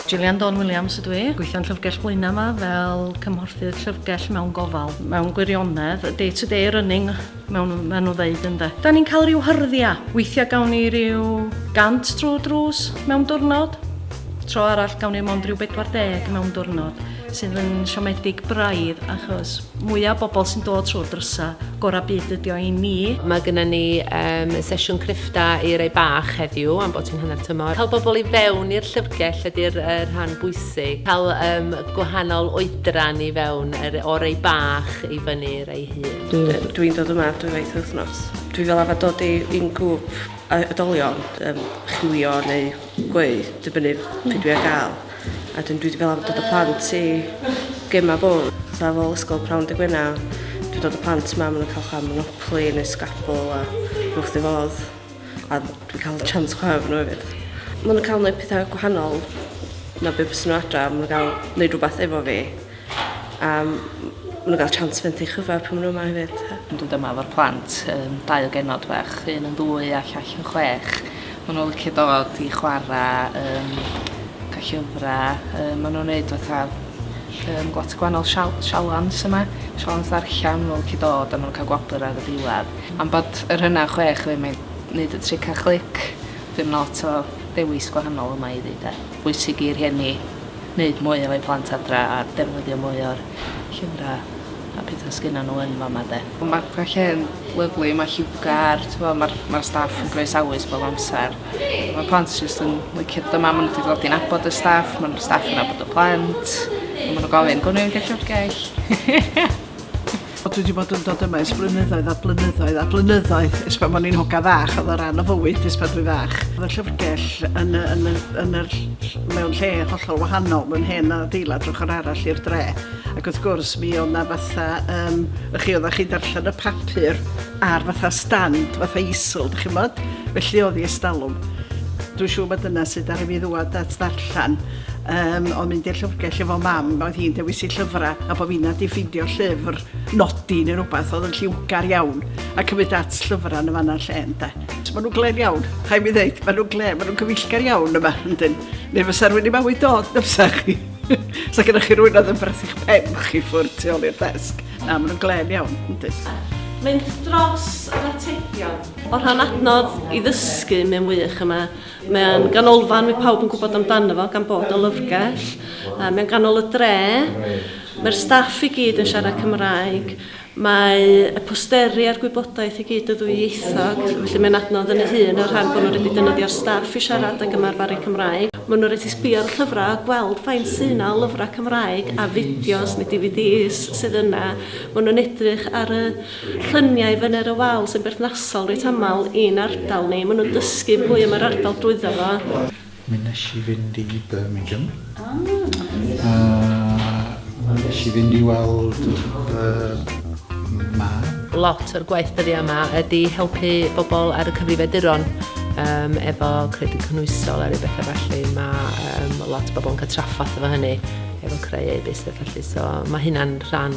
Gillian Dawn Williams ydw i. Gweithio'n Llyfrgell Blaenau yma fel cymhorthydd llyfrgell mewn gofal. Mewn gwirionedd, day to day running mewn maen nhw ddeud ynde. Da ni'n cael rhyw hyrddia. Weithiau gawn ni rhyw gant drwy drws mewn diwrnod. Tro arall gawn ni mond rhyw 40 mewn diwrnod. sydd yn siomedig braidd achos mwya' bobl sy'n dod trwy'r drysa', gora' byd ydi o i ni. Mae gynna ni yym sesiwn creffta i rai bach heddiw am bod hi'n hanner tymor. Cael bobl i fewn i'r llyfrgell ydi'r yy rhan bwysig. Cael yym gwahanol oedran i fewn yr o rai bach i fyny i rai hŷn. Dwi'n dwi'n dod yma dwywaith yr wythnos. Dwi fel arfer dod i i'n grŵp oedolion yym chwilio neu gweu dibynnu be' dwi ar ga'l. A dwi wedi fel arfer dod â plant i gema bwl. Sa fel ysgol prawn dy gwena, dwi dod â plant ma, maen nhw'n cael chwa monopoli neu sgabl a rhywbeth di fodd. A dwi'n cael chance chwa efo nhw hefyd. Maen nhw'n cael gwneud pethau gwahanol na be bys nhw adra, maen nhw'n cael gwneud rhywbeth efo fi. A m- maen nhw'n cael chance fynd i chyfa pan maen nhw yma hefyd. Ond dwi dyma efo'r plant yym dau o genod bach un yn ddwy a llall yn chwech ma' n'w licio dod i chwara yym ca' llyfra yym ma' nw'n neud fatha yym lot o gwanol sial- sialens yma sialens ddarllan ma' n'w licio dod a ma' nw'n ca'l gwobr ar y diwadd am bod yr hynna yn chwech ddim yn neud y tric a chlic dim lot o dewis gwahanol yma iddi de. bwysig i rhieni neud mwy efo'u plant adra a defnyddio mwy o'r llyfra a petha sgynnon n'w yn fama 'de. Ma' ma' lle'n lyfli ma' lliwgar t'mo' ma'r ma'r staff yn groesawus bob amsar. Ma' plant jyst yn licio dod yma ma' n'w 'di dod i nabod y staff ma'r staff yn nabod y plant a ma' n'w gofyn gwn i mynd i'r llyfrgell? O, dwi wedi bod yn dod yma ers blynyddoedd a blynyddoedd a blynyddoedd, ers pan o'n i'n hogan fach, oedd o ran o fywyd ers pan dwi'n fach. Oedd y llyfrgell yn, y, yn, y, yn yr, mewn lle hollol wahanol, mewn hen adeilad drwch yr arall i'r dre. Ac wrth gwrs, mi oedd na fatha, um, ych chi oedd chi darllen y papur ar fatha stand, fatha isl, dych chi'n bod? Felly oedd i estalwm. Dwi'n siŵr bod dyna sydd ar i fi ddwad at ddarllen. Yym, o mynd i'r llyfrgell efo mam, oedd hi'n dewis i llyfrau, a bod fi'n nad i ffidio llyfr nodi neu rhywbeth oedd yn lliwgar iawn, a cymryd at llyfrau yn y fanna lle, ynda. Mae nhw'n glên iawn, rhaid mi ddeud, mae nhw'n glên, mae nhw'n gyfeillgar iawn yma, yndyn. Neu fysa rhywun i mawi dod, na fysa chi. Sa gyda chi rhywun oedd yn byrth i'ch pen chi ffwrdd tu ôl i'r desg. Na, mae nhw'n glên iawn, yndyn. Mynd dros yr atebion. O rhan adnodd i ddysgu, mae'n wych yma. Mae'n ganolfan mae pawb yn gwybod amdano fo gan bod o lyfrgell. Uh, mae'n ganol y dre. Mae'r staff i gyd yn siarad Cymraeg. Mae y posteri a'r gwybodaeth i gyd y ddwyieithog, felly mae'n adnodd yn y hun o'r rhan bod nhw'n rhaid i dynyddio'r staff i siarad ac ymarferu Cymraeg. Mae nhw'n rhaid i sbio ar y llyfrau a gweld faint sy'n yna o lyfrau Cymraeg a fideos neu DVDs sydd yna. Mae nhw'n edrych ar y lluniau fyny'r y wal sy'n berthnasol reit aml i'n ardal ni. Maen nhw'n dysgu mwy am yr ardal drwyddo fo. Mi wnes i fynd i Birmingham a mi wnes i fynd i weld fy mab. Lot o'r gwaith dyddiau yma ydy helpu bobl ar y cyfrifiaduron yym efo credyd cynhwysol a ryw bethau felly. Mae yym lot o bobl yn cael trafferth efo hynny efo creu e-byst a felly so mae hynna'n rhan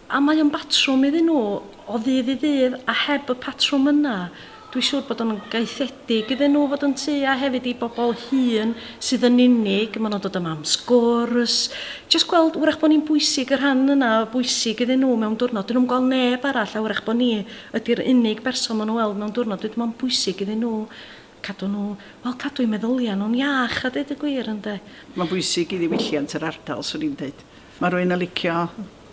A mae o'n batrwm iddyn nhw o ddydd i ddydd, a heb y patrwm yna, dwi siŵr bod o'n gaethedig iddyn nhw fod yn tŷ, a hefyd i bobl hŷn sydd yn unig, maen nhw'n dod yma am sgwrs, jyst gweld, wrach bod ni'n bwysig, y rhan yna o bwysig iddyn nhw mewn diwrnod, dyn nhw'm yn gweld neb arall, a wrach bod ni ydi'r unig berson maen nhw'n weld mewn diwrnod, wedyn mae'n bwysig iddyn nhw cadw nhw, wel, cadw eu meddyliau nhw'n iach, a deud y gwir, ynde. Mae'n bwysig i ddiwylliant yr ardal, 'swn i'n deud. Mae rhywun yn licio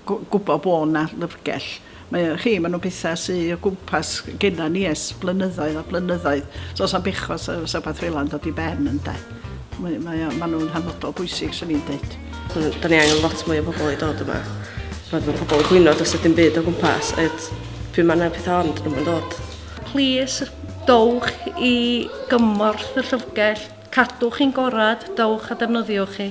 gwybod bod 'na lyfrgell. Mae o, chi, maen nhw'n bethau sy o gwmpas genna ni ers blynyddoedd a blynyddoedd. So does na'm bechod os a rhywbeth fel 'a'n dod i ben ynde. Mae, mae o, maen nhw'n hanfodol bwysig, swn i'n dweud. Da ni angen lot mwy o bobl i dod yma. Mae fy pobl yn gwyno dros y dim byd o gwmpas. Ed, pryd mae yna pethau ond nhw'n dod. Plis, dowch i gymorth y llyfrgell. Cadwch chi'n gorad, dowch a defnyddiwch hi.